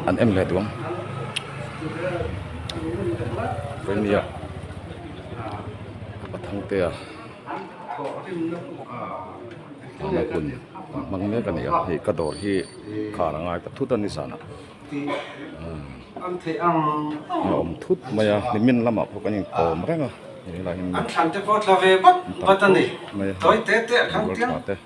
an em hle tuam premier a thang te a ama kun hmang mek a nia hei ka dawr hi khar a ngai ta thut a ni sana a awm thut mai a nimin lamah pawh kan inkawm reng a helai hi an thlan te pawh tla ve vat vat a ni tawi te te a thlang tlang.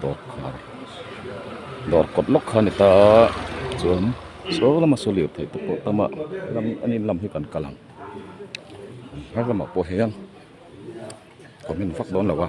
dawrkhar dawr kawt lawk kha a ni ta a chuan sawi lama sawi lirthei te pawh tam a lam a ni lam hi kan kal ang hma lamah pawh hian khawmin vak dawn lo a.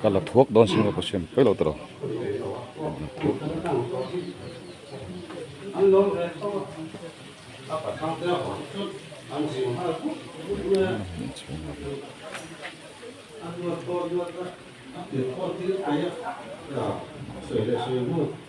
Ka la thuak dawn si maw ka hriat phei lo ta lo.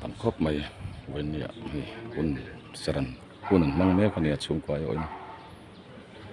tam khawp mai vawinia hun saran hun an hmang mek a nia chhungkua erawh hi.